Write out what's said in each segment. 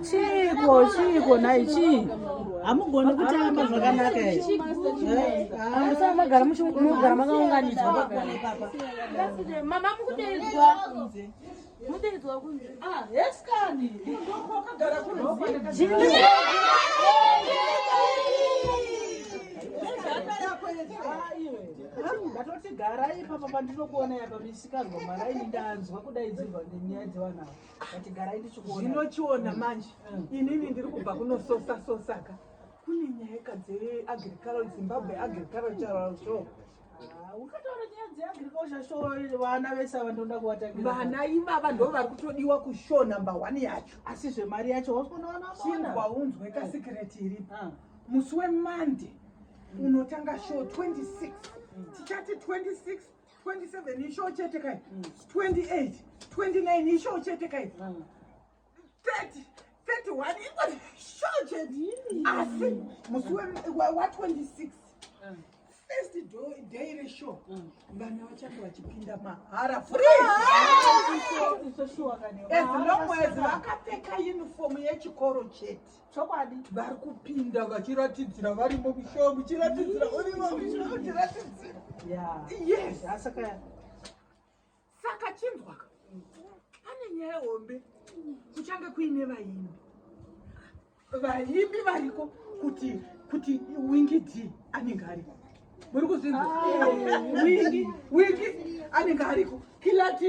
chiiko chiiko nhai chii hamugoni kutamba zvakanaka musana magara muchimugara makaunganidzwa Mudaidzwa kunzi ah yes kani ndoko wakagara kuno ndatoti garai ipapa pandinokuona yapa misikanzwa mwana ini ndanzwa kudaidzirwa nenyaya dzevanhu ava kati garai ndichikuona zvinochiona mm. manje mm. inini ndiri kubva kunososasosaka kune nyaya ka dzeagriculture zimbabwe agricultural show vana ivava ndo vari kutodiwa kushow number one yacho asi zvemari yacho waunzwe kasikireti iripo ah. musi wemande unotanga show 26 mm. tichati 26 27 ishow chete kai 28 mm. 29 ishow chete kai mm. 30 31 ingori sure chete asi musi wa26 first day reshow vana vachange vachipinda mahara freeaslongwezi vakapfeka unifomu yechikoro chete chokwadi vari kupinda vachiratidzira varimo mushow muchiratidzira urimo muchiratidzira yes asaka saka chinzwaka pane nyaya hombe kuchange kuine vaimbi vaimbi variko kuti kuti wingi d anenge ariko muri kuzvinzwa ah. wingi wingi anenge ariko kilati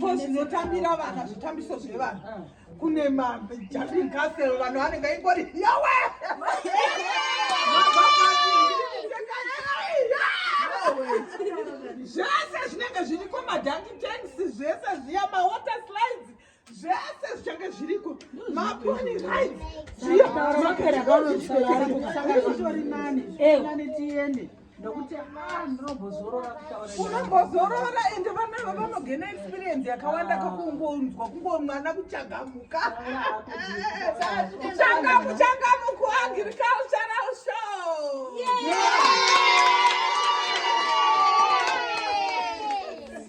ko zvinotambira vana zvitambiso zvevanhu kune majamin castle vanhu vanenge ingori yawe zvese zvinenge zviriko madanki tanks zvese zviya mawater slides zvese zvichange zviriko maponi rights zviyomakaraaaari nani nani tiende nokuti ndinombozorora unombozorora ende vana va vanogena experience yakawanda kakungonzwa kungomwana kuchagamuka changamu changamu kuagricultural show yeah.